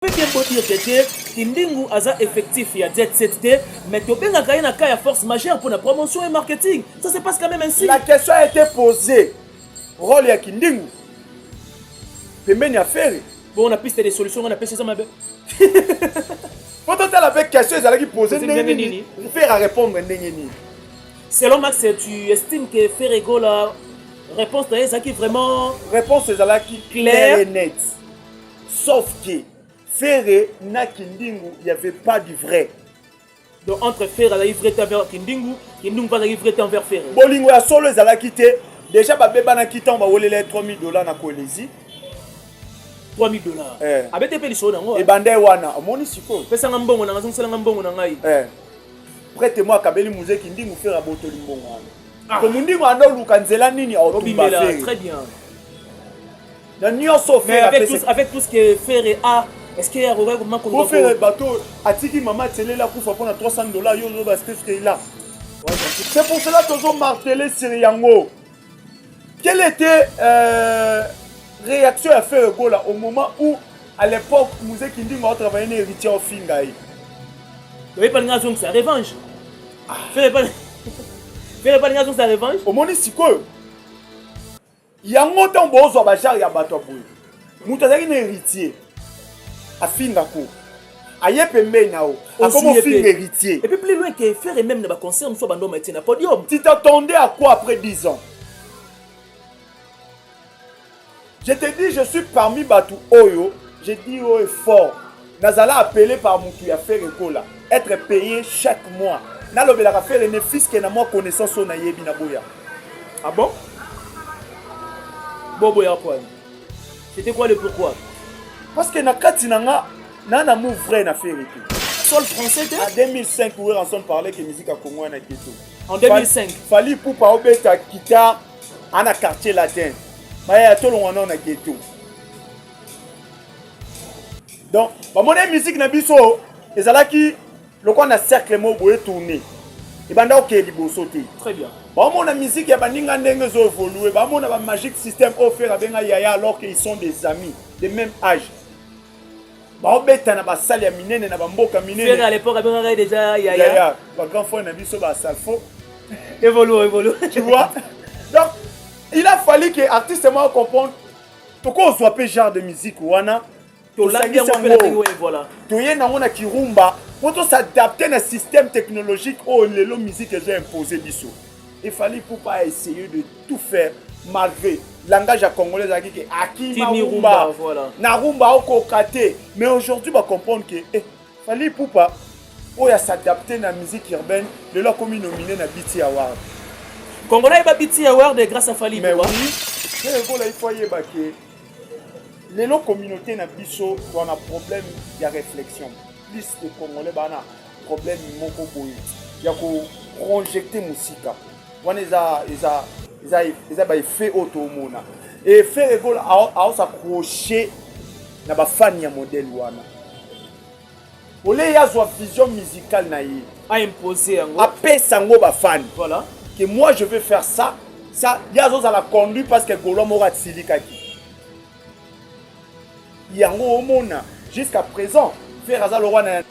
peut bien beau dire que te kindingu aza effectif ya jet set te mais tobengaka ye na cas ya force majeure mpona promotion et marketing ça se passe quand même ainsi la question a été posée rôle ya kindingu pembeni ya fere bon na piste de solution ngai napesi eza mabe po totala mpe question ezalaki pose ndenge nini fere arépondre ndenge nini selon max tu estime que fere gola réponse na ye ezalaki vraiment réponse ezalaki claire et nette Sauf que Ferre na Kindingu, il n'y avait pas du vrai. Donc entre Ferre azalaki vrai temps vers Kindingu, Kindingu mpe azalaki vrai temps vers Ferre. Bolingo ya solo ezalaki te. Déjà babebanaki ntango bawelela ye 3000 dollars na Kolezi. 3000 dollars. Eh. Abete mpe lisolo yango. Ebanda ye wana. Omoni sikoyo. Pesanga mbongo na ngai, zongisela ngai mbongo na ngai. Eh. Prete mwa akabeli muzee Kindingu Ferre abotoli mbongo wana. Ah. Ko Mundingu ando luka nzela nini aotumba Ferre. Très bien. na nyonso mais avec tout, avec tout ce que ferre a est-ce que akoka koma ko ferre bato atiki mama atelela kufa mpona 300 dollars yo ozoba stefkeila c'est pour cela tozo martele sur yango quelle était euh, réaction ya ferre gola au moment où à l'époque musée kindingo atravaille na héritier ofinga ye oyebi balinga azongisa revanche ah. ferre balinga azongisa revanche omoni sikoyo yango ntango bozwa bajare ya bato ya boye moto azalaki na héritier afinga ko aye pembeni na yo akomi ofinga héritier et puis plus loin que faire et même na baconcert mosusu bandoma etie na podium tu t'attendais à quoi après 10 ans je te dis je suis parmi bato oyo je dis oyo fort nazala appelé par mutu ya Ferre Gola être payé chaque mois nalobelaka Ferre ne fiske na mwa connaissance oyo nayebi na boya ah bon boboya kwani c'était quoi le pourquoi parce que na kati na nga na na move vrai na Ferre te sol français te en 2005 oyo ranson parlait que musique ya Congo wana keto en 2005 Fally Ipupa obeta guitare ana quartier latin baya tolongwa nao na ghetto donc bamoni musique na biso ezalaki lokola na cercle moko boye tourne ebanda okeye liboso te très bien bamona musique ya baninga ndenge ezo évolue bamona ba magic système oyo fere abenga yaya alors qu'ils sont des amis de même âge baobeta na basale ya minene na bamboka mineneya bagrand frère na biso basalfo évolue évolue tu vois donc il a fallu que artiste moko comprendre tokozwa mpe genre de musique wana toye nango na kirumba mpo tosadapte na système technologique oyo oh, lelo musique ezo impose biso efali pupa a essaye de tout faire malgré langage ya congolais ezalaki ke akima rumba na rumba akoka te mais aujourd'hui bacomprendre ke eh, Fally Ipupa oyo asadapte na musique urbaine lelo akomi nomine na BT Award. Congolais ayeba BT Award grâce à Fally Ipupa. Mais oui, c'est ekola il faut ayeba que lelo communauté na biso wana problème ya réflexion plus de Congolais bana problème moko boye ya ko projecter musika wana eza eza eza eza ba effet oyo tomona effet ekola aosa crochet na ba fan ya modèle wana ole ye azwa vision musicale na ye a imposer yango apesa yango ba fan voilà que moi je vais faire ça ça ye azozala conduit parce que golois moko atilikaki yango omona jusqu'à présent ferre aza lokwa na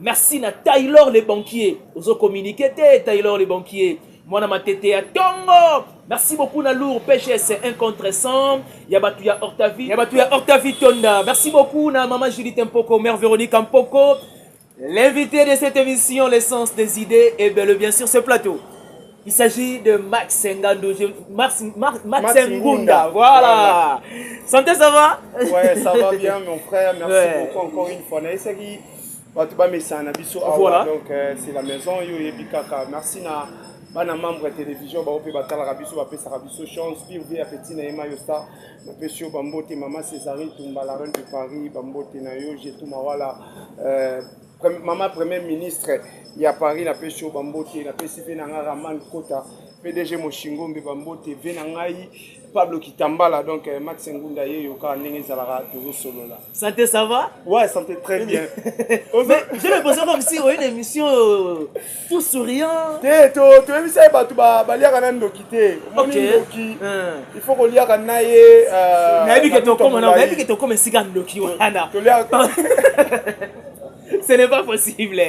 Merci na Taylor le banquier. Ozo communiquer te Taylor le banquier. Mwana matete ya tongo. Merci beaucoup na lourd PGS un contre 100. Ya batu ya Octavie. Ya batu ya Octavie Tonda. Merci beaucoup na maman Judith Mpoko, mère Véronique Mpoko. L'invité de cette émission, l'essence des idées, et bien, bien sûr ce plateau. Il s'agit de Max Ngando, je... Max, Max, Max, Max Ngunda. Ngunda. Voilà. voilà. Santé, ça va Ouais, ça va bien, mon frère. Merci ouais. beaucoup encore une fois. Naïsaki, bato bamesana na biso awa voilà. donc euh, c'est la maison yo oyebi kaka merci na bana membre ya télévision bango mpe batalaka biso bapesaka biso chance pire vie ya petit na ye mayo star napesi yo bambote mama césarine tumba la reine de paris bambote na yo jetu mawala euh, Mama Premier Ministre ya Paris na pesi yo bambote, na pesi pe na nga Raman Kota, PDG Moshingombe bambote, ve na ngai Pablo Kitambala, donc euh, Max Ngunda ye yoka ndenge ezalaka tozo solola. Santé ça va? Ouais, santé très bien. Mais je me posais comme si on une émission euh, tout souriant te to toyebisa ye bato baliaka na ndoki te omoni ndoki eh. il faut koliaka na ye euh, nayebi ke tokoma nayebi ke tokoma esika ndoki wana ce n'est pas possible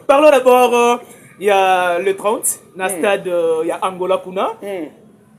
parlons d'abord euh, il y a le 30 na hmm. stade euh, ya angola kuna hmm.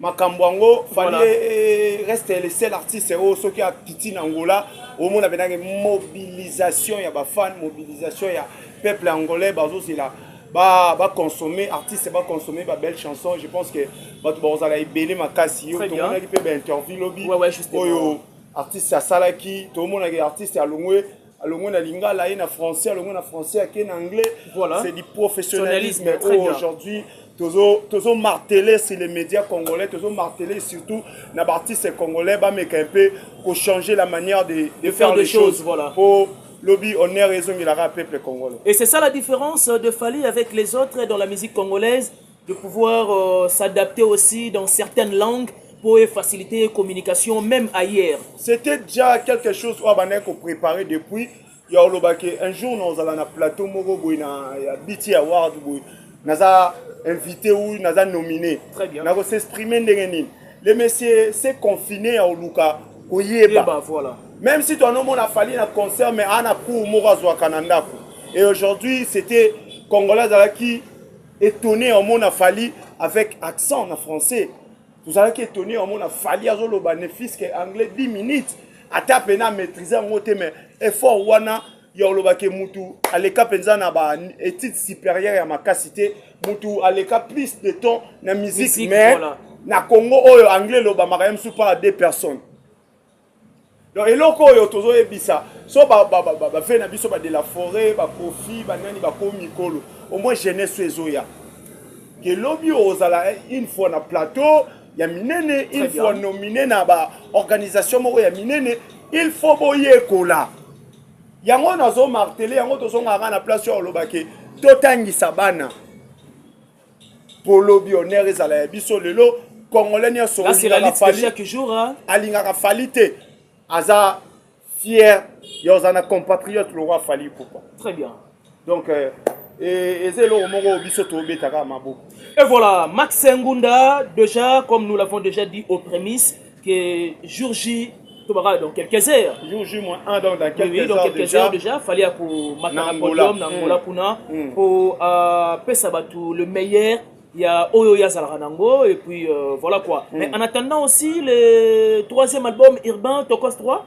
makambo yango fali reste le seul artiste oyo soki akiti na angola omona mpenange mobilisation ya bafane mobilisation ya peuple angolais bazozela baconsomme ba artiste baconsomme babelle chanson je pense que bato bakozala ebele makasi yo tomonaki mpe bainterview lobi oyo artiste asalaki tomonaki artiste alongwe alongwe na lingala ye na français alongwe na français ake na anglais voilà. c'est du professionnalisme oyo aujourd'hui tozo marteler sur les médias congolais tozo marteler surtout na baartiste congolais bameka un peu kochanger la manière de, de, de faire, faire des choses, choses voilà. pour lobi honneur ezongelaka peuple congolais et c'est ça la différence de Fally avec les autres dans la musique congolaise de pouvoir euh, s'adapter aussi dans certaines langues pour faciliter communication même ailleurs. C'était déjà quelque chose oyo abandaki kopréparer depuis ya olobaki un jour nazala na plateau moko boye na ya bt award boye naza invité ou naza nominé nako s'exprimer ndenge nini le monsieur se confine ya oluka koyeba voilà. même si toanomona fali na concert mais ana cour moko azwaka na ndako et aujourd'hui c'était congolais azalaki Etonné en mona Fally avec accent na français. Vous allez qui étonné en mona Fally azoloba ne fils que anglais 10 minutes. Ata pena maîtriser en moté mais effort wana ya oloba ke mutu aleka penza na ba études supérieures ya makasi te mutu aleka plus de temps na musique mais na Congo oyo anglais lobamaka ye mosusu par deux personnes Donc eloko oyo tozo yebisa so ba ba ba ba, ba vie na biso ba de la forêt ba kofi ba nani ba ko mikolo au moins jeunesse ezoya que lobi ozala une fois na plateau ya minene une fois nominé na ba organisation moko ya minene il faut boyekola yango nazo martele yango tozongaka na place oyo olobaki totangisa bana po lobi honneur ezala ya biso lelo congolais nyonso alingaka fali te aza fier ya oza na compatriote lokwa fali ipupa très bien donc euh, et eza eloko moko biso tobetaka maboko et voilà max ngunda déjà comme nous l'avons déjà dit aux prémices que jour J to bakala dans quelques heures jour J moins 1 donc dans quelques, oui, dans quelques déjà, heures déjà fallait ya komata na podium na Angola mm. kuna mm. po euh, pesa bato le meilleur ya oyo oyo azalaka nango et puis euh, voilà quoi mm. mais en attendant aussi le troisième album urbain tokos 3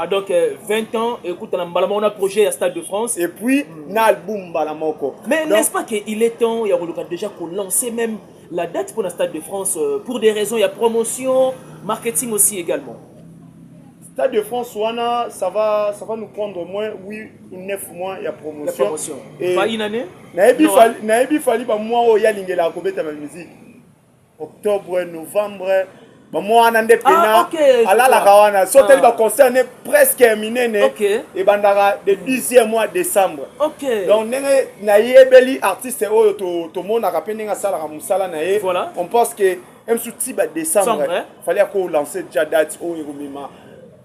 Ah donc 20 euh, ans ekutana mbala moko na projet ya Stade de France et puis mm. na album mbala moko. Mais n'est-ce pas que il est temps ya koluka déjà ko lancer même la date pour la Stade de France euh, pour des raisons ya promotion, marketing aussi également. Stade de France wana ça va ça va nous prendre au moins 8 ou 9 mois ya promotion. La promotion. Et pas une année. Na ebi fali na ebi fali ba mois oyo ya lingela ko beta ma musique. octobre novembre mama wana nde ah, pena ah, okay, alalaka wana so tali ah. baconcert ne presque ya minene okay. ebandaka de 10e mois décembre okay. donc ndenge nayebeli artiste oyo tomonaka to mpe ndenge asalaka mosala na ye voilà. on pense que msu tiba décembre fallait akolancer déjà date oyo ekomema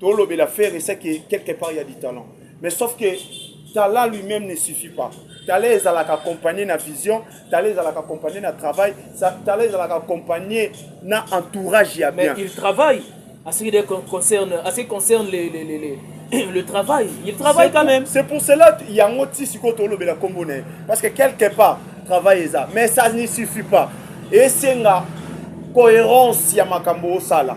tolobela ferre c'est que quelque part il y a du talent mais sauf que talent lui-même ne suffit pas talent ezalaka accompagné na vision talent ezalaka accompagné na travail talent ezalaka accompagné na entourage ya bien mais il travaille à ce qui concerne à ce qui concerne les, les, les, les le travail il travaille quand même c'est pour cela yango ti sikoyo tolobela nkombo na ye parce que quelque part travail eza mais ça ne suffit pas esenga cohérence ya makambo osala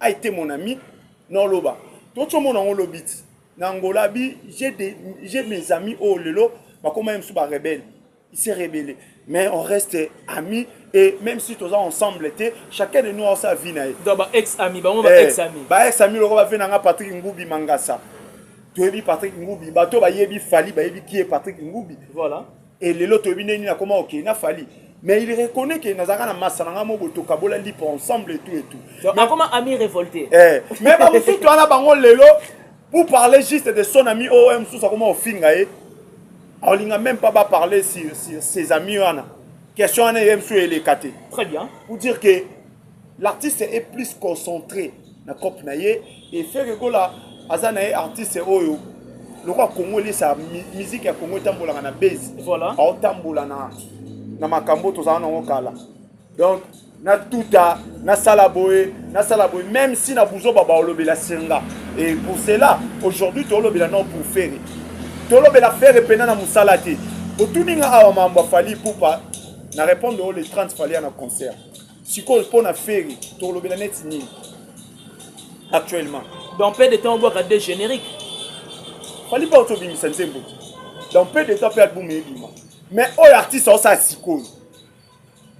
a été mon ami na oloba toti omona yango lobi ti na angola abi j'ai mes amis oyo oh, lelo bakoma ye mosusu barebele il s'est rebellé mais on reste amis et même si toza ensemble te chacun de nous a sa vie na ye donc ba ex amis bango ba eh, ex amis ba ex amis loko ba vie na nga Patrick Ngubi Mangasa toyebi Patrick Ngubi bato bayebi Fally bayebi qui est Patrick Ngubi voilà Et lelo toyebi ndenge nini akoma kokende na Fally. Mais il reconnaît que nazalaka na masa na ngai moko tokabola lipa ensemble et tout et tout. Donc mais, akoma ami révolté. Eh, mais ba mususu wana bango lelo pour parler juste de son ami oyo oh, mosusu akoma kofinga ye. Aolinga même pas ba parler sur, sur ses amis wana. Question wana ye mosusu elekate. Très bien. Pour dire que l'artiste est plus concentré na cope na ye et ferre gola aza na ye artiste oyo lokola congo elesa miziki ya congo etambolaka na base voilà. aotambola na, na makambo oyo tozala nango kala donc natuta nasala boye nasala boye même si na buzoba baolobela senga et pour cela aujourd'hui tolobela non pour ferre tolobela ferre mpena na mosala te otuni nga awa mambo afali pupa na répondre oyo le 30 falia na concert sikoyo mpo na ferry tokolobela neti nini actuellement dans peu de temps obwaka de générique fali mpo tobimisa nzembo dans peu de temps mpe album ebima mais oyo artiste aosala sikoyo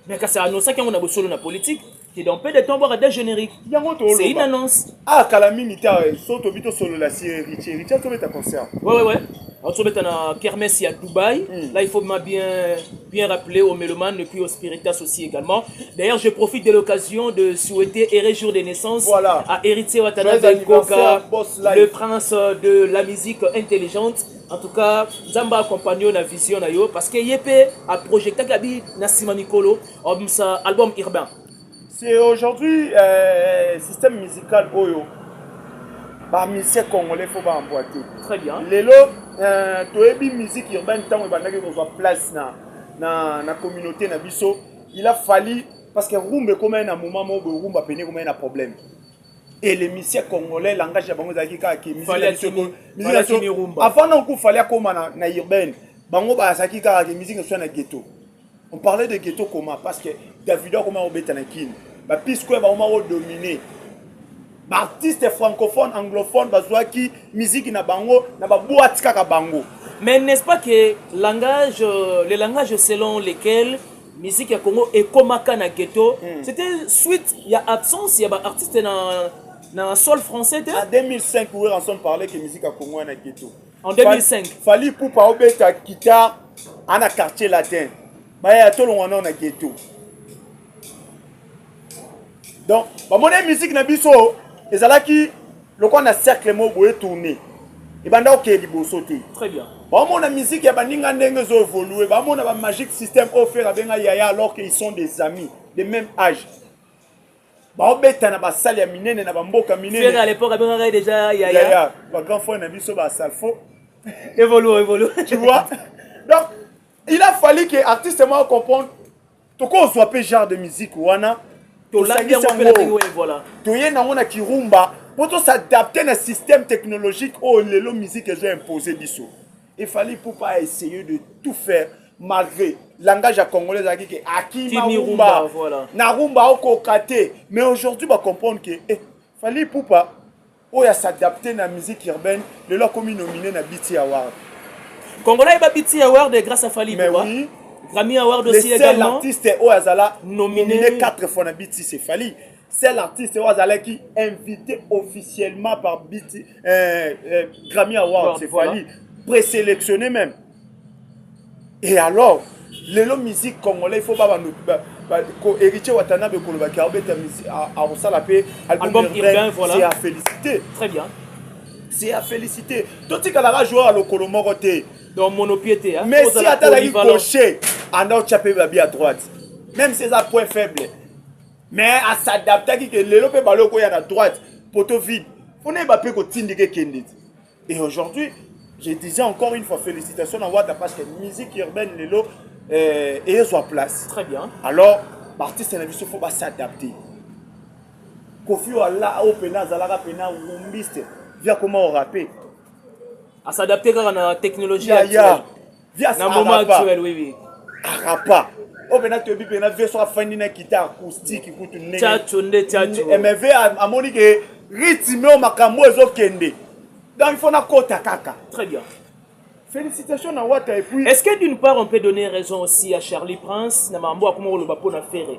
mais kasi anosaki yango na bosolo na politique ke dans peu de temps obwaka de générique yango c'est une annonce ah kala mingi ta so tobi tosolola si riche riche azobeta concert ouais ouais ouais azobeta na kermesse ya dubaï mm. là il faut ma bien bien rappeler aux mélomanes et puis aux spiritas aussi également d'ailleurs je profite de l'occasion de souhaiter heureux jour de naissance voilà. à héritier watanabe koka le prince de la musique intelligente en tout cas nzambe accompagne yo na vision na yo parce que ye mpe aprojectaki abi na nsima mikolo album urbain C'est aujourd'hui euh, système musical oyo ba musiciens congolais faut ba emboîter. Très bien. Lelo euh, toyebi musique urbaine tango ebandaki kozwa place na na na communauté na biso. Il a fallu parce que rumba ekoma na moment moko rumba pene ekoma na problème. Et les musiciens congolais langage ya bango ezalaki kaka ke musique na biso avant na ko fallait akoma na na urbaine. Bango bazalaki kaka ke musique na biso na ghetto. On parlait de ghetto comment parce que Davido akoma kobeta na Kin. Ba P-Square bakoma kodomine. Ba artistes francophones, anglophones bazwaki miziki na bango na ba boîtes kaka bango. Mais n'est-ce pas que langage, euh, le langage selon lequel musique ya Congo ekomaka na ghetto, mm. c'était suite ya absence ya ba artistes na na sol français te? En 2005, Werrason parlait que musique ya Congo na ghetto. en 2005 fali pupa aobeta guitare ana quartier latin baya tolongwa nao na ghetto donc bamoni musique na biso ezalaki lokola na cercle moko boye tourne ebanda okeye liboso te bamona musique ya baninga ndenge ezo évolue bamona bamagique système oyo fere abenga yaya alors que ils sont des amis de même âge baobeta na basale ya minene na bamboka minene à l'époque abengaka ye déjà yaya yaya ba grand frère na biso ba salfo évolue évolue tu vois donc il a fallu que artiste moi comprendre tokozwa mpe genre de musique wana tosangisa yango toye nango na kirumba mpo tosadapte na système technologique oyo lelo musique ezo impose biso Il fallait Poupa a essayé de tout faire malgré langage ya congolais ezalaki ke akima Timi rumba rumba, voilà. na rumba akoka te mais aujourd'hui bacomprendre ke eh, fali pupa oyo asadapte na musique urbaine lelo akomi nomine na bt award Congolais ayeba BT Award grâce à Fally mais Ipupa. oui Grammy Award le aussi seul également. artiste oyo azala Nominé. nomine 4 fois na bt c'est fali seul artiste oyo azalaki invité officiellement par BT, euh, euh, Grammy Award, c'est voilà. Fally, présélectionné même. Et alors, lelo musique congolais, il faut pas nous héritier Watanabe koloba ki abeta akosala mpe album urbain voilà. c'est à féliciter très bien c'est à féliciter totikalaka joueur ya lokolo moko te donc monopie te hein? mais si atalaki gaucher anda otya mpe babi à droite même si eza point faible mais a s'adaptaki ke lelo mpe bale okoya na droite poto vide mpo nayeba mpe kotindika ekende ti et aujourd'hui je disais encore une fois félicitation na wata parce que musique urbaine lelo euh, eyezwa place très bien alors baartiste na biso fo basadapte kofi wala oyo mpena azalaka mpena rumbiste via koma orape asadapte kaka na technologie ya, ya. vias na moment arapa actuel oui oui arapa oyo mpena toyebi mpena vie soki afandi na kita acoustique kutu ndenge chacho nde chacho Eh, mais vie a- amoni ke rythme oyo makambo oyo ezokende donc il faut nakota kaka très bien félicitation na wata et puis Est-ce que d'une part on peut donner raison aussi à Charlie Prince na mambo akoma koloba mpo na Ferre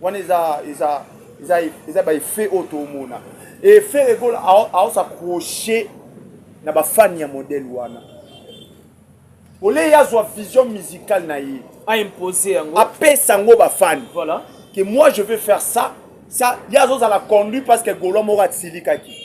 wana eza eza eza eza ba effet oyo tomona et Ferre Gola aos accrocher na ba fan ya modèle wana oleye azwa vision musicale na ye a imposer yango apesa yango ba fan voilà que moi je veux faire ça ça ye azozala conduit parce que golois moko atilikaki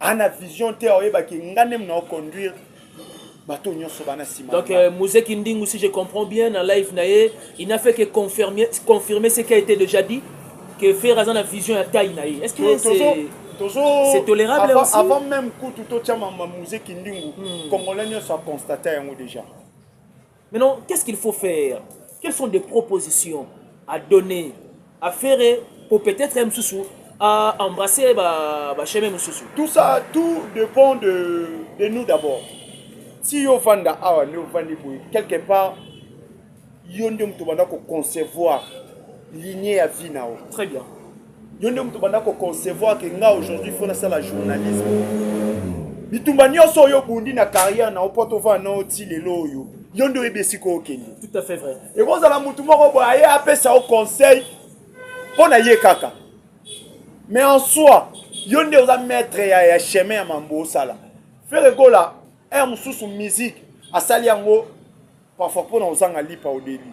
ana vision te oyebaki nga nde mna oconduire bato nyonso bana nsima donc euh, mose kindingu si je comprends bien na live na ye il n'a fait que confirmer, confirmer ce qui a été déjà dit que fer aza na vision ya taille na ye est ce que c'est c'est tolérable avant, aussi avant même kutu totyama muse kindingu mm. congolais nyonso aconstate yango déjà Maintenant, qu'est-ce qu'il faut faire Quelles sont des propositions à donner à Ferre pour peut-être M. Soussou à embrasser bah, bah, M. Soussou Tout ça, tout dépend de, de nous d'abord. Si yo vanda awa ne vandi boye quelque part yo nde moto banda ko concevoir lignée ya vie na yo. Très bien. yo nde moto banda koconcevoir ke nga aujourd'hui fo nasala journalisme bitumba nyonso oyo obundi na carrière na yo mpo tovaa nao ti lelo oyo yo nde oyebi esika okende ekozala motu moko boye aye apesa yo conseil mpo na ye kaka mais en soi yo nde oza maître ya, ya chemin ya mambo osala frere gola heure mosusu musique asali yango parfois mpo na ozanga lipa odeli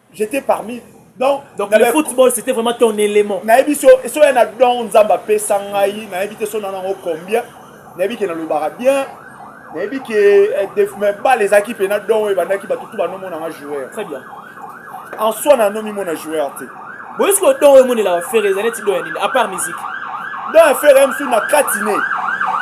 j'étais parmi donc, donc le football c'était vraiment ton élément nayebi so esoya na don nzambe apesa ngai nayebi te so na nango combien nayebi ke nalobaka bien nayebi ke eh, mais bale ezalaki mpe na don oyo ebandaki bato tu banomona nga joueur très bien en soi nanomimona joueur te boyesi ko don oyo emonelaka fere eza neti don ya nini apart musique don ya fere msu na kati ne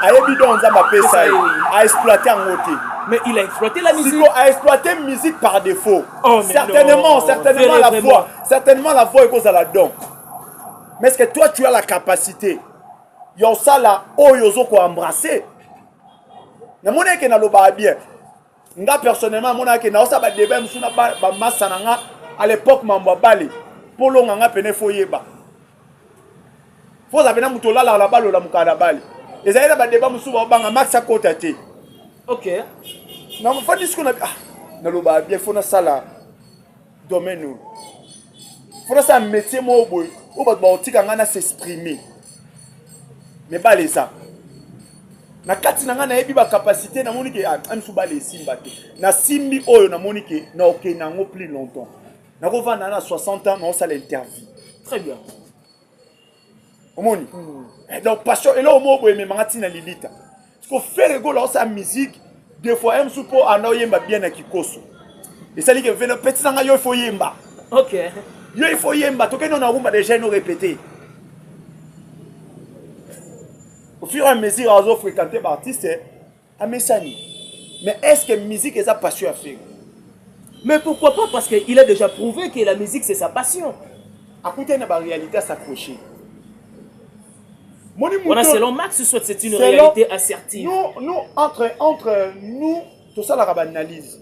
ayebi don nzambe apesa ye aexploite yango te mais il a exploité la musique a exploité musique par défaut Oh, certainement, certainement la voix. Certainement la voix est la don. Mais est-ce que toi tu as la capacité ya osala oyo ozo ko embrasser namoni eke nalobaka bien nga personnellement amonaka ke naosala badeba mosusu na bamasa na nga à l'époque mambo abale mpo olonga nga pene fo oyeba Faut ozala pena moto olalaka na balola mokala na bale. Ezali na badeba mosusu baobanga Max akota te. Ok. Na mofandi siko na ah, naloba bien faut nasala domaine oyo. Faut nasala métier moko boye oyo bato bakotika ngai na s'exprimer. Mais bale eza. na kati na ngai nayebi bacapacité namoni ke ah, amisu bale esimba te nasimbi oyo namoni ke naokende yango plus longtemps nakovanda na 60 ans naosala interview très bien omoni hmm. eh, donc passion eloko moko boye ememanga ntina lilita siko fere egola osala musique de fois ye mosusu mpo anda oyemba bien na kikoso esali ke velo petisa ngai yo ifo yemba ok yo ifo yemba tokende na rumba deja eno répété au fur et à mesure azo fréquente baartiste amesani mais est ce que musique eza passion ya ferre mais pourquoi pas parce que il a déjà prouvé que la musique c'est sa passion akutani na baréalité asapproche moni wana selon max soit c'est une réalité assertive nous, nous entre, entre nous tosalaka baanalyse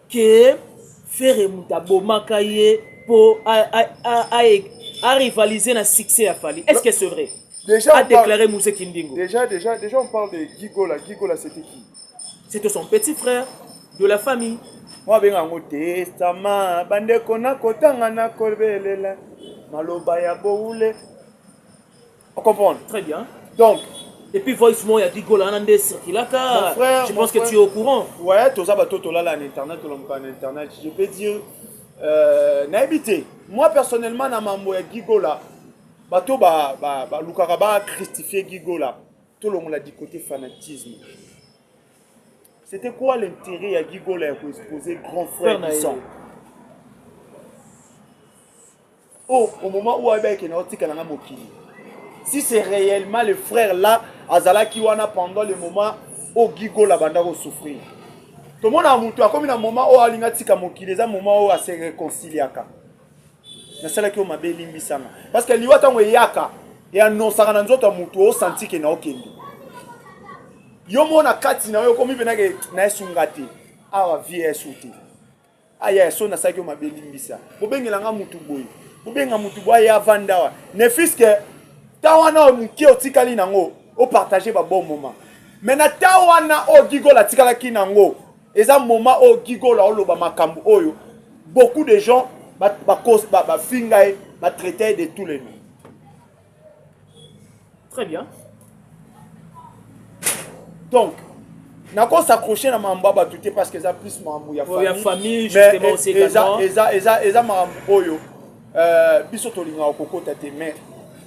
que ferre mutu abomaka ye po a rivaliser na succès ya fali est ce que c'est vrai déjà a déclaré muse kindingo déjà déjà déjà on parle de gigola gigola c'était qui c'était son petit frère de la famille mwa abenga yango testama bandeko nakotanga nakobelela maloba ya boule O comprendre? Très bien. Donc, Et puis voice moi ya Digola wana nde circulaka. Je pense que tu es au courant. Ouais, toza bato tolala na internet, tolamuka na internet. Je peux dire euh, nayebi te. Moi personnellement na mambo ya Gigola, bato ba ba ba lukaka ba christifier Gigola. Tolongola du côté fanatisme. C'était quoi l'intérêt ya Gigola ya ko exposer grand frère Bissant? Oh, au moment où Abel Kena otika na mokili. Si c'est réellement le frère là, azalaki wana pendant le moment où Gigo la banda ko souffrir. Tout le monde a mutu akomi na moment où alinga tika mokili, eza moment où a se réconciliaka. Na sala ki o mabe limbisanga. Parce que liwa tango eyaka, et annonçaka na nzoto ya mutu o senti que na okende. Yo mona kati na yo komi benake na esunga te. Awa vie esuti. Ah yaya so nasalaki yo mabe limbisa bobengela nga mutu boye bobenga mutu boye aya avanda awa ne fiske ta wana oyo moke otikali nango opartage ba bon moment me na ta wana oyo gigola atikalaki nango eza moment oyo gigola oloba makambo oyo beaucoup de gens bafinga ye batraite ye de tous les noms très bien donc nako s'accroche na makambo ya bato te parce que eza plus makambo ya oh, famille eza makambo oyo euh, biso tolingaka kokota te mais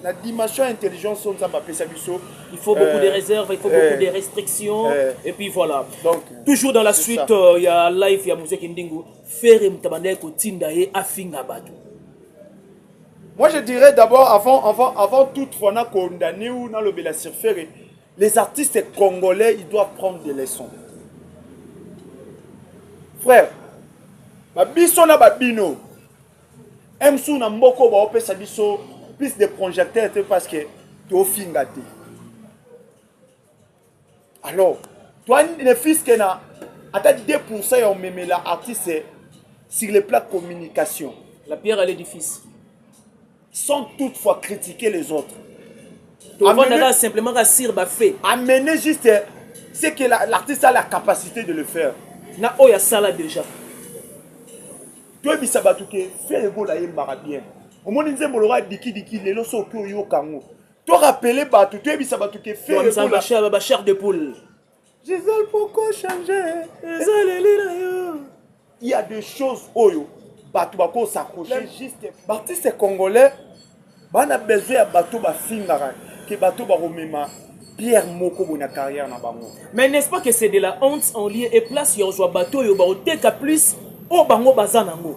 na dimension ya intelligence oyo nzambe apesa biso il faut beaucoup de euh, réserve il faut beaucoup de euh, restrictions et puis voilà donc toujours dans la suite ya live ya mozeki ndingu fere moto abandaki kotinda ye afinga bato Moi je dirais d'abord avant avant avant toute fois na condamné ou na lobela sur ferre les artistes congolais ils doivent prendre des leçons. Frère ba biso na ba bino MSU na mboko ba opesa biso plus de projecteurs parce que to finga te. alors toi ne fils que na ata 2% ya omemela artiste sur le plan communication la pierre à l'édifice sans toutefois critiquer les autres tovandaka simplement ka sur bafe amener juste ce que l'artiste a la capacité de le faire na oyo asala déjà toyebisa bato ke fere gola ayembaka bien omoni nzembo lokola dikidiki lelo soki oyoka yango To rappeler batu, to yebisa batu ke Ferre Gola. Ba ba chair de poule. Gisèle pourquoi changer? Ezaleli na yo. Il y a des choses oyo batu bako s'accrocher juste. B'artistes congolais bana besoin ya bato bafingaka ke bato bakomema pierre moko boye na carrière na bango mais n'est-ce pas que c'est de la honte en lieu et place ya kozwa bato oyo bakoteka plus oyo bango baza nango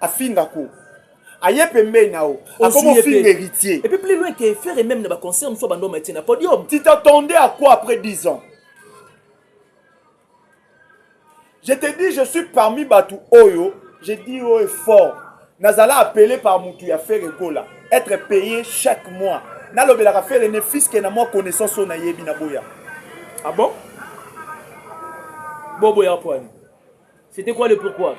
afinga ko aye pembeni na yo akoma ofinga héritier et puis plus loin que faire et même na ba concert mosusu bando matie na podium tu t'attendais à quoi après 10 ans je te dis je suis parmi batu oyo je dis oyo fort nazala appelé par mutu ya faire egola être payé chaque mois nalobelaka fere ne fiske na mwa connaissance oyo nayebi na boya ah bon boboya pwani C'était quoi le pourquoi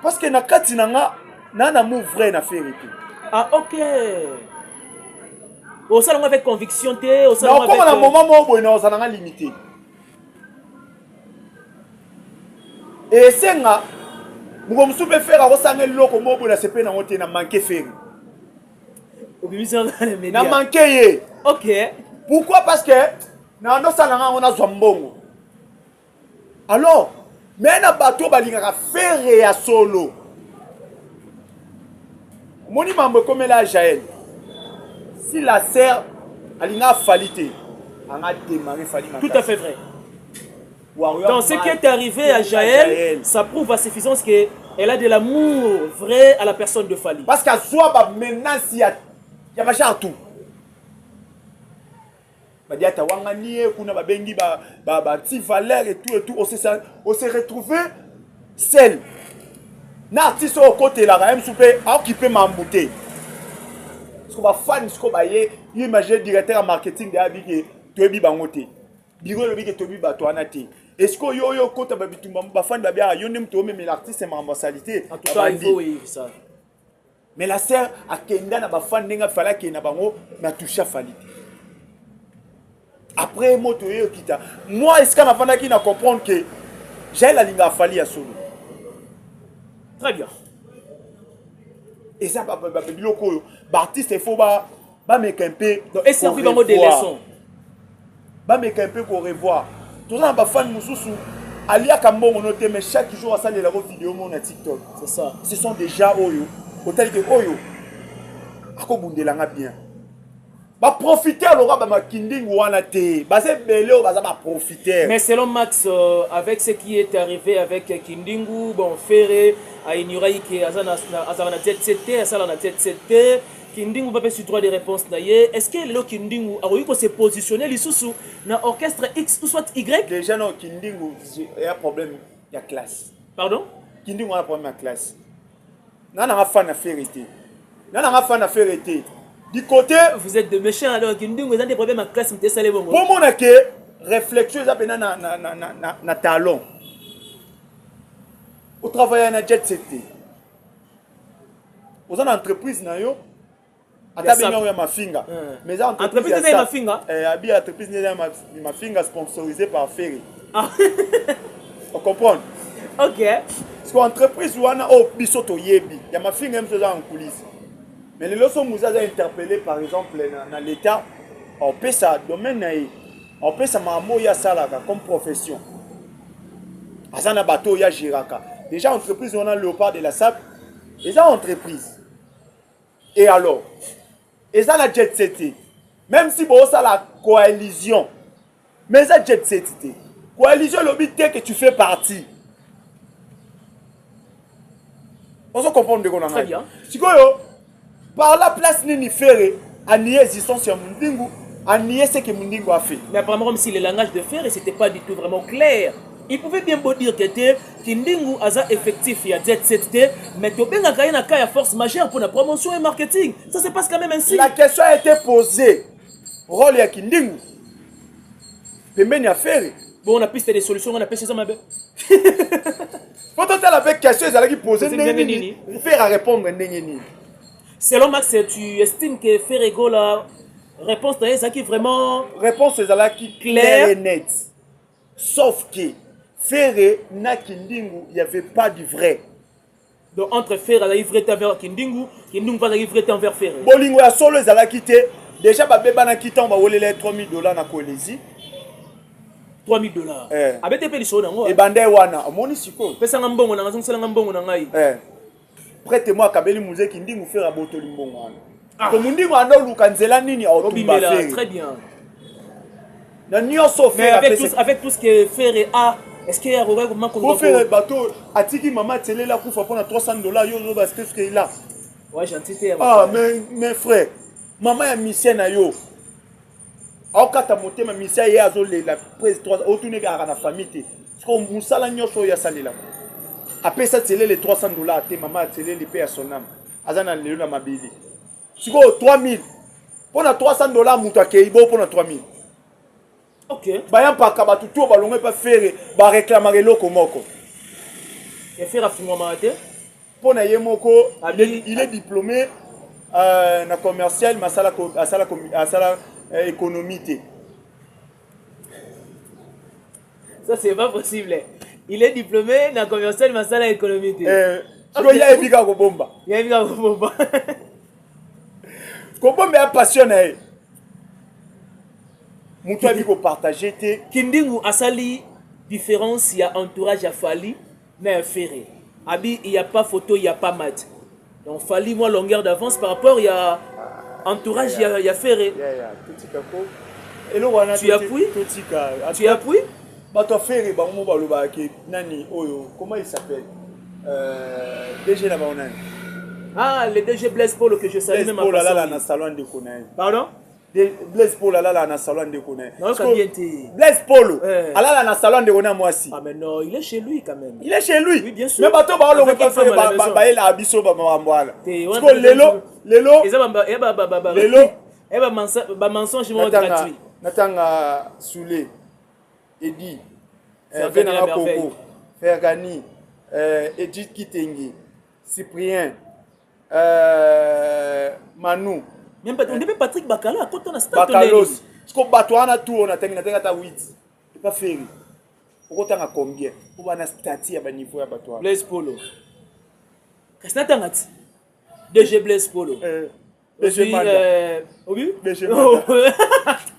Parce que na kati na nga na na mou vrai na ferre te. Ah OK. Osala ngo avec conviction te, osala ngo avec Na koma na moment moko boye na osala nga limité. Et senga moko mosusu mpe ferre akosanga eloko moko boye na sepe nango te na manke ferre na manke ye ok pourquoi parce que na ndosala nga yango nazwa mbongo alors me na bato oyo balingaka fere ya solo omoni mambo ekomela jael si la serre alinga afali te anga démarré fali tout à fait vrai Warrior dans ce qui est arrivé à Jaël, Jaël, ça prouve à suffisance que elle a de l'amour vrai à la personne de Fali. Parce qu'à soi, bah, maintenant, il y a, il y a tout. Badiata wanga nie kuna babengi ba ba ba ti valeur et tout et tout on s'est on s'est retrouvé seul. Na artiste au côté là même soupe a occupé mambo te. Parce que ba fans ko ba ye imagine directeur marketing de abiki toyebi bango te. Biro lobi ke toyebi bato wana te. Est-ce que yo yo kota ba bitumba ba fans ba bia yo nde moto omemela artiste mambo salite. En tout cas il faut ça. mais la sœur akenda na ba fan ndenge fallait akende na bango na toucha fali te après moto oyo kita moi esika nafandaki na comprendre que jael alinga afali ya solo très bien eza biloko oyo baartiste il faut bameka mpe eservi bango de leçon Bameka un peu ko revoir. Toza na ba fans mususu aliaka mbongo no te mais chaque jour asalela ko video mo na TikTok. C'est ça. Ce sont déjà oyo otali ke oyo akobundela nga bien. Ba profiter loka ba makinding wana te. Baza ebele oyo baza ba profiter. Mais selon Max euh, avec ce qui est arrivé avec Kindingu, bon Ferre a ignoré que azana azana tete tete, asala na tete tete. Kindingu ba pesi droit de réponse na ye. Est-ce que lelo Kindingu akoki ko se positionner lisusu na orchestre X ou soit Y? Déjà non Kindingu ya problème ya classe. Pardon? Kindingu a problème ya classe. Nga na nga fan ya Ferre te. Nga na nga fan ya Ferre te. Du côté Vous êtes de méchants alors Kindingu eza des problèmes ya classe mte sale bongo. Pour mona ke réflexion eza pena na na na na na talon. Au travail na jet set te. oza na entreprise na yo ata bengi yango ya mafinga eh. mais eza entreprise eza ya mafinga eh, abi entreprise eza ya mafinga sponsorisé par ferry ah. o comprendre ok siko entreprise wana oyo oh, biso toyebi ya mafinga biso eza na nkulisi mais lelo so muza aza interpellé par exemple na, na l'état opesa domaine na ye opesa makambo oyo asalaka comme profession aza na bato oyo agiraka déjà entreprise wana léopard de la sable eza entreprise et alors eza na jet set te même si bosala coalition mais eza jet set te coalition elobi te que tu fais partie ozo comprendre ndeko na ngai sikoyo par la place nini fere anie existence ya mondingu anie ce que mondingu a fait mais apparemment comme si le langage de fere c'était pas du tout vraiment clair il pouvait bien beau dire que te kindingu aza effectif ya jet set te mais tobengaka ye na cas ya force majeure mpona promotion et marketing ça se passe quand même ainsi la question a été posée rôle ya kindingu pembeni ya fere bongo na piste de solution nga na pesi eza mabe po totala mpe question ezalaki pose ndenge nini fere arépondre ndenge nini selon max tu estime que fere gola réponse na ye ezalaki vraiment réponse ezalaki claire et nette sauf que fere na kindingu y avait pas du vrai Donc entre Ferre azalaki vrai temps vers Kindingu, Kindingu mpe azalaki vrai temps vers Ferre. Bolingo ya solo ezalaki te. Déjà babebanaki ntango bawelela ye 3000 dollars na Kolezi. 3000 dollars. Eh. Abete mpe lisolo yango. Ebanda ye wana. Omoni sikoyo. Pesanga mbongo na ngai, zongisela ngai mbongo na ngai. Eh. Prête moi akabeli muzeki ndingu Ferre abotoli mbongo wana. Ah. ko mondingo anda oluka nzela nini aotumba fere na nyonso avec tout ce que fere a est-ce que akoki koma ko fere bato atiki mama atelela kufa mpona 300 dollars yo oloba ce que ce qu'il a ouais gentil te ah mais mais frère mama ya misien na yo aokata motema misien ye azolela prise 3 otuni kaka na famille te siko mosala nyonso oyo asalelaka apesa telele 300 dollars te mama ateleli mpe ya sonama aza na lelo na mabele sikoyo 3000 mpo na 300 dollars moto akei bo mpo na 3000 okay. baya mpaka bato to balongo epa fere bareklamaka eloko moko ya fere afungwamaka te mpo na ye moko il est diplômé euh, na commercial mais asala, asala, asala euh, économie te Ça, c'est pas possible. Il est diplômé na commercial masala économie te. Eh, sikoyo ye ayebi kaka kobomba. Ye ayebi kaka kobomba. kobomba ya passion na ye. Moto ayebi kopartage te. Kindingu asali différence ya entourage ya Fally mais ferre abi il y a pas photo il y a pas mat donc fali moi longueur d'avance par rapport il y a entourage il y a, y a ferre yeah, yeah. totika ko eloko wana tu appuies totika tu appuies bato ya ferre bango mo balobaka ke nani oyo comment il s'appelle euh, dg na bango nani ah le dg blaise polo que je salue même en passant na salon ndeko na ye pardon Blaise Polo alala na salon ndeko na Blaise Polo eh. alala na salon ndeko na mwasi. Ah mais non, il est chez lui quand même. Il est chez lui. Oui, bien sûr. Mais bato ba olongo pa fere ba ba ba ela biso ba mambo ala. Siko lelo lelo. Eza ba eh, ba ba ba. Lelo. Eh ba mensonge ba mensonge mo gratuit. Natanga Soule. Edi. Eh, Venanga Koko. Fergani. Euh, Edith Kitenge. Cyprien. Euh, Manu. Même pas, on même Patrick Bakala, quand on a stade. Bakalos. Parce que Batoa, on a tout, on a terminé, on a ta 8. C'est pas ferry. okotanga combien mpo bana stati ya baniveau ya bato wana blaise polo kasi natanga ti dg blaise polo eh, obi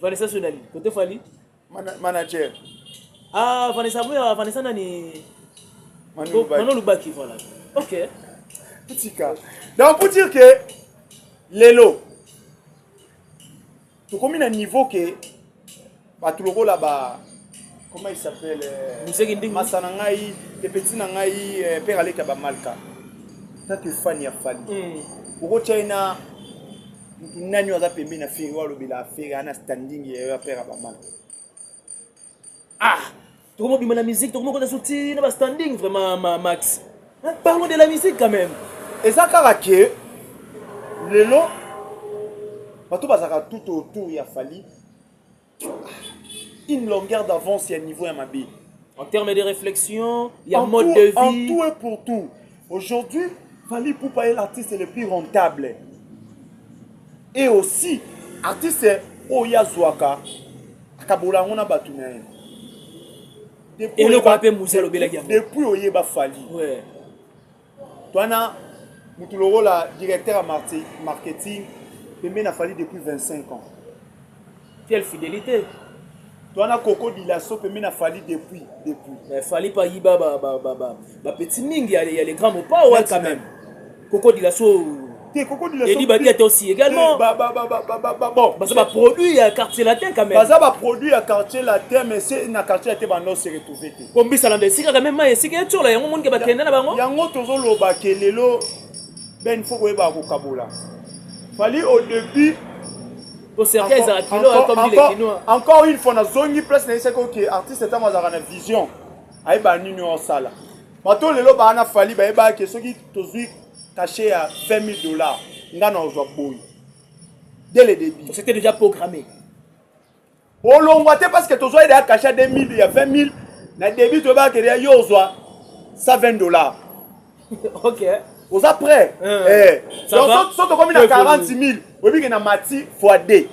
Vanessa sio nani? Kote Fally? Mana, manager. Ah, Vanessa Boya, Vanessa nani? Manu Lubaki. Manu Lubaki, voilà. Ok. Tika. Donc pour dire que lelo tokomi na niveau que bato lokola ba comment il s'appelle euh, museki ndingi masa na ngai te petit na ngai euh, père aleka ba malka tatu fan ya fali mm. okotia ye na mutu nani aza pembeni na feri walobela aferi ana standing ya yo ya père ya ba malka ah tokomobima na musique tokomokota so ti na ba standing vraiment ma max parlons de la musique quand même eza kaka ke lelo bato bazalaka tout autour ya fali une longueur d'avance ya niveau ya mabe en termes de réflexion ya mode tout, de vie en tout et pour tout aujourd'hui Fally Poupa est l'artiste le plus rentable et aussi artiste oyo azwaka akabola yango na bato na ye eloko mpe musi alobelaki yango depuis oyeba fali ouais. Twana mutu lokola directeur ya marketing pembe na fali depuis 25 ans. Quelle fidélité Twana Coco Dilasso pembe na fali depuis depuis. Mais fali pa yiba ba ba ba ba, ba petit mingi ya les grands mopao quand même. Coco Dilasso Eddie Badiate aussi également. Bon, baza ba produit ya quartier latin quand même. Baza ba produit ya quartier latin mais c'est na quartier latin bando se retrouver te. Bon bisa landa esika quand même esika etiola yango moni ke bakenda na bango. Yango tozo loba ke lelo ben faut koyeba kokabola. Fallait au début encore une fois nazongi place nayesaki oke artiste ntango azalaka na vision ayebaa nini osala bato lelo baa na fali bayebaki soki tozwi cachet ya 20 000 dollars nga na ozwa boye dès le début c'était déjà programmé olongwa te parce que tozwa yede ya cachet ya 2 000 ya 20 000 na début toyebaka kede ya yo ozwa 120 dollars ok oza prêt euh, eh. donc so tokomi na 40 000 oyebi ke na mati fois 2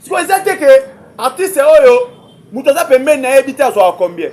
sikoyo eza te ke artiste oyo moto aza pembeni na yebi te azwaka combien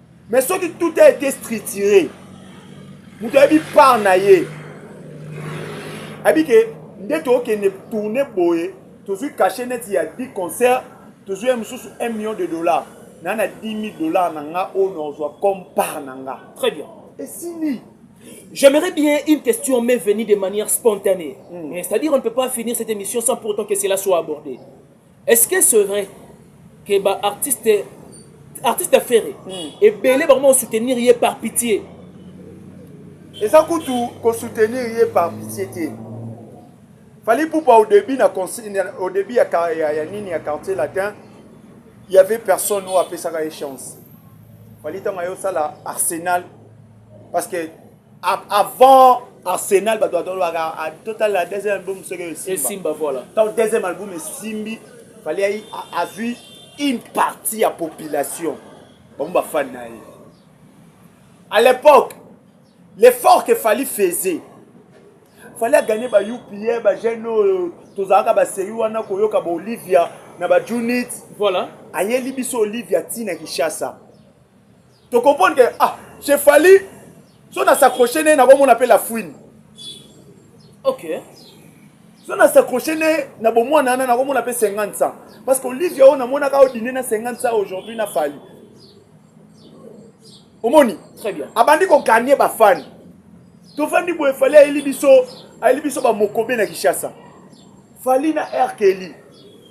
Mais soki tout a été structuré, moto ayebi part na ye ayebi ke nde tokende tourne boye tozwi cachet neti ya 10 concert tozwi ye mosusu 1 million de dollars na na 10 000 dollars na nga oyo nazwa comme part na nga très bien esili J'aimerais bien une question m'est venue de manière spontanée. Mm. C'est-à-dire on ne peut pas finir cette émission sans pour autant que cela soit abordé. Est ce que c'est vrai que ba artiste artiste affaire hmm. ebele bango ba soutenir ye par pitié eza kutu ko soutenir ye par pitié te fallait poupa au début na au début ya, ya, ya nini ya quartier latin il y avait personne oyo apesaka ye chance fallait ntango ayosala arsenal parce que avant arsenal bato batolobaka ah, totalela deuxième album soki esimba voilà donc deuxième album esimbi fallait azwi une partie ya population bango bafani na ye à l'époque l'effort que fali faisait fali aganye ba upa bajeune oyo tozalaka baseri wana koyoka baolivia na bajunit voilà ayeli biso olivia ntina kinshasa To comprendre que ah, chez Fally so na s'accrocher ne na komona pe la fouine. OK. So na s'accrocher ne na bomwana na na komona pe 50 cents parce que Olivia on amona ka odine na 50 cents aujourd'hui na Fally. Omoni? Très bien. Abandi ko gagner ba fans. tofandi boye fali ayeli biso ayeli biso bamokobe na kinshasa fali na rkeli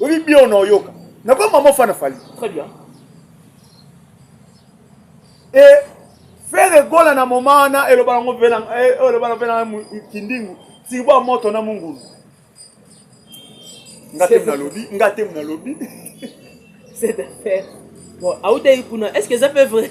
Oui, bien, on a yoka. N'a pas maman fan Fally. Très bien. Et faire gola na moment na eloba ngo vela eh, eloba na vela kindingu. Tiba moto na mungulu. Ngate mna lobi, ngate mna lobi. C'est affaire. Bon, aoudaï kuna, est-ce que ça peut vrai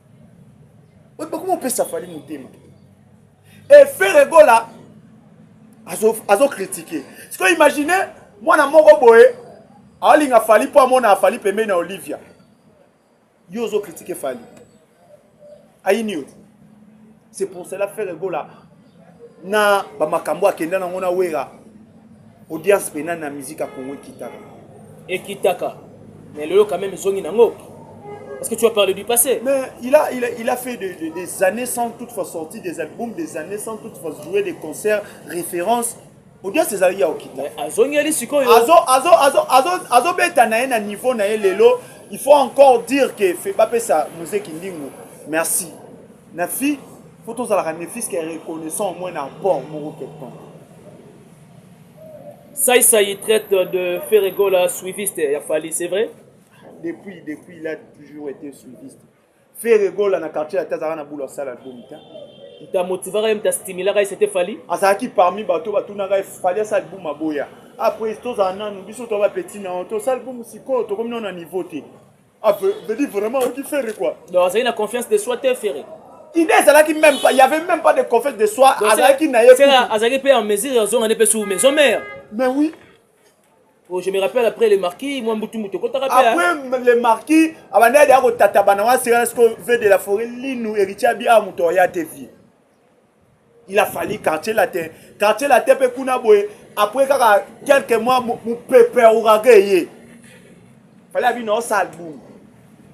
bakoma opesa fali motema efere gola azokritike azo siko imagine mwana moko boye aolinga fali mpo amona fali pembeni na olivia yo ozokritike fali ayini yo c'est pour cela ferre gola na bamakambo akenda nango na wera audience mpe nani na musique ya congo ekitaka ekitaka mais lelo quand même ezongi nango Parce que tu as parlé du passé. Mais il a, il a, il a fait de, de, des années sans toutefois sortir des albums, des années sans toutefois jouer des concerts, références. audience ezalaki ya okita azongeli sikoyo azobeta na ye na niveau na ye lelo il faut encore dire que bapesa muzeki ndingo merci na fille faut tozalaka ne fils que reconnaissant au moins na apport moko quelconque saisai traite de ferregola suiviste ya fali c'est vrai depuis depuis il a toujours été suiviste ferregola na quartier ya te azalaka na bulu asala album te moto amotivaka ye moto astimilaka ye sete fali azalaki parmi bato batunaka ye fali asa album aboya après tozala nanu biso toba petit na yo tosala album sikoyo tokomi nano na niveau te Ah, veut dire vraiment oki ferre quoi. Donc azali na confiance de soi te ferre. Idée ezalaki même pas, il y avait même pas de confiance de soi, azalaki na ye. Ferre azalaki pe en mesure ya zonga ne pe sous maison mère. Mais oui. Oh, je me rappelle après les marquis, moi Mbutu Mbutu kotaka pe. Hein. Après les marquis, abanda ya ko tata bana wa sera ce que veut de la forêt linu héritier bi a muto ya te vie. il a fallu quartier latin quartier latin mpe kuna boye après kaka quelques mois mopepe ya ouraga eye fali abi nao sal boum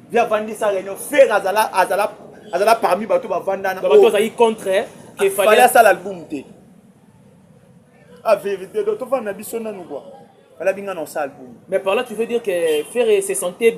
vi avandisa réunion fer azala azala azala parmi bato bavandana bato azalaki contre fali asala album te a vérité donc tovanda na biso nanu kua fali abi ngai nao sal boum mais par là tu veux dire que ferre se sentait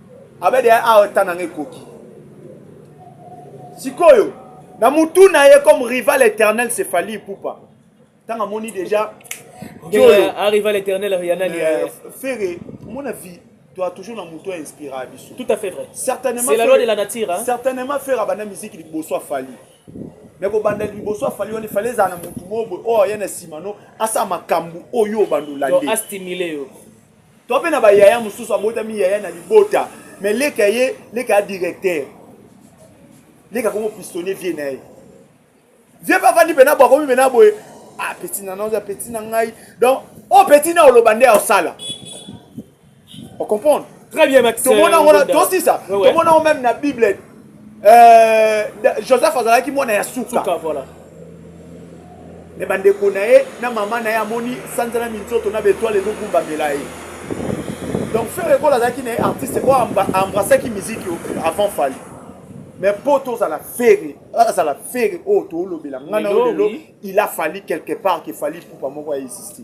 abede ya awa ta nanga ekoki sikoyo na mutu na ye comme rival éternel c'est fali pupa ntango amoni déjà arrival éternel riana euh, ferre mon avis tu as toujours na mutu ya inspira ya biso tout à fait vrai certainement c'est la loi de la nature hein? certainement ferre abanda musique liboso afali me kobanda liboso afali wana efali ezala na motu moko boye oyo aya na nsima no asala makambo oyo obanda olande astimile yo to mpe na bayaya mosusu abotami yaya na libota me leka ye leka ya directeur leka komo pistonne vie na ye vie mpe afandi mpena bo akomi mpena boye ah peti na naoza peti na ngai donc oyo oh, peti na oloba nde aosala ocomprendre très bien tomona yango tosisa tomona yango meme na bible Euh, Joseph azalaki mwana ya suka. Suka voilà. Mais bandeko na ye na mama na ye amoni sanza na minzoto na betoile ezokumbamela ye donc ferre ekola azalaki na ye artiste oyo embrassaki miziki avant fali mais mpo tozala fere azala fere oyo toolobela ngai na yo lelo il a fali quelque part ke fali pupa moko ya existe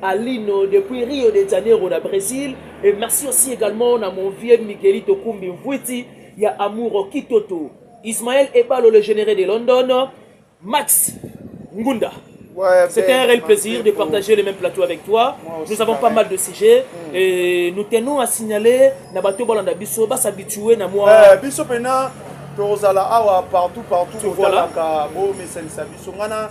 Alino depuis Rio de Janeiro na Brésil et merci aussi également na mon vieux Miguelito Kumbi Mvuiti ya Amour Kitoto Ismaël Ebalo le généré de London Max Ngunda Ouais, C'était un réel plaisir de partager le même plateau avec toi. Nous avons pas mal de sujets mm. et nous tenons à signaler na bato balanda biso ba s'habituer na moi. Eh, biso pena tozala awa partout partout otalaka bo mesanisa biso ngana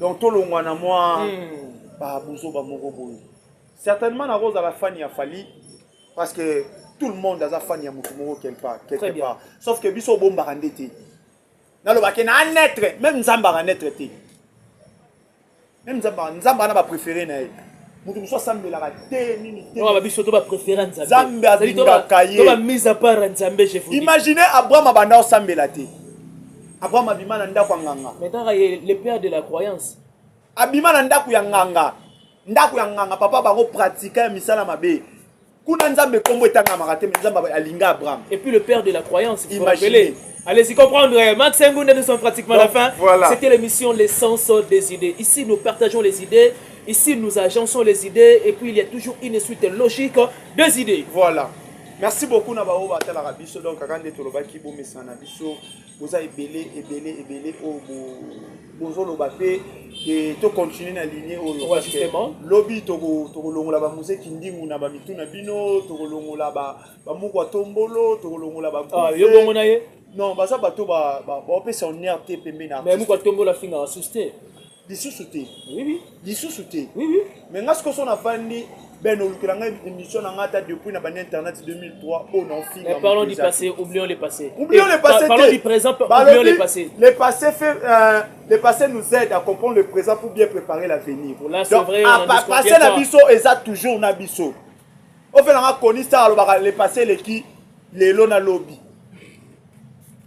donc tolongwa na mwa hmm. babuzoba moko boye certainement nakozala fani ya fali parce que tout le monde aza fani ya motu moko quelque part quelque part sauf que biso obombaka nde te nalobaki na anetre meme nzambe aka netre te meme nzambe nzambe ana bapréféré na ye moto mosusu asambelaka te nini tebiso to bapréféré nzambe alingaka ye imaginez abraham abanda osambela te Abraham abima na ndako ya nganga. Mais kaka ye le père de la croyance. Abima na ndako ya nganga. Ndako ya nganga papa bango pratika ya misala mabe. Kuna Nzambe kombo etangamaka te mais Nzambe alinga Abraham. Et puis le père de la croyance, vous rappelez Allez-y comprendre, eh, Max Engoun, nous sommes pratiquement à la fin. Voilà. C'était l'émission L'essence des idées. Ici, nous partageons les idées. Ici, nous agençons les idées. Et puis, il y a toujours une suite logique des idées. Voilà. merci beaucoup na baoyo batalaka biso donc kaka nde tolobaki bomesana na biso boza ebele ebele ebele oyo bozoloba mpe e, tocontinue na ligne oyo lobi tokolongola bamuse kindingu na bamitu na bino tokolongola bamukwa tombolo tokolongola ah, yo bongo na ye non baza bato bapesa honneur te pembe na mais mukwa tombolo afingaka susi te lisusu te lisusu te mais nga sikoso nafandi ben olukela ngai émission na ngai ata depuis na bani internet 2003 oyo naofinga parlons du passé oublions le passé oublions le passé parlons du présent oublions le passé le passé fait euh, le passé nous aide à comprendre le présent pour bien préparer l'avenir donc vrai, à passé na biso eza toujours na biso ofela nga koni star alobaka le passé eleki lelo na lobi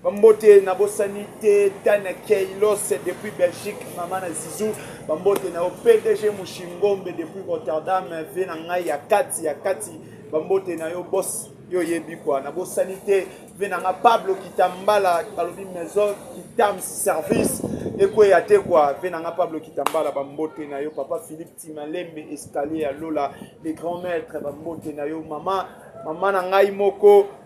Bambote na bosani te Tana Keilos depuis Belgique mama na Zizou bambote na yo PDG Mushingombe depuis Rotterdam vie na ngai ya kati ya kati bambote na yo boss yo oyebi kwa na bosani te vie na nga Pablo Kitambala balobi maison Kitam service ekweya te kwa vie na nga Pablo Kitambala bambote na yo papa Philippe Timalembe escalier ya lola les grands maîtres bambote na yo mama mama na ngai moko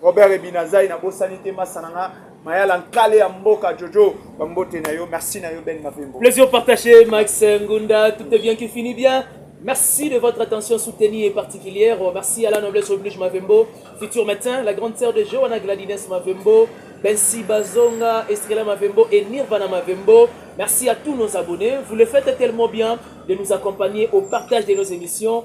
Robert Ebinazai na bosani te masa na nga mayala nkale ya mboka jojo bambote na yo merci na yo ben mavembo plaisir partagé max ngunda tout est bien qui finit bien Merci de votre attention soutenue et particulière. Merci à la noblesse oblige Mavembo, futur matin, la grande sœur de Johanna Gladines Mavembo, Bensi Bazonga, Estrella Mavembo et Nirvana Mavembo. Merci à tous nos abonnés. Vous le faites tellement bien de nous accompagner au partage de nos émissions.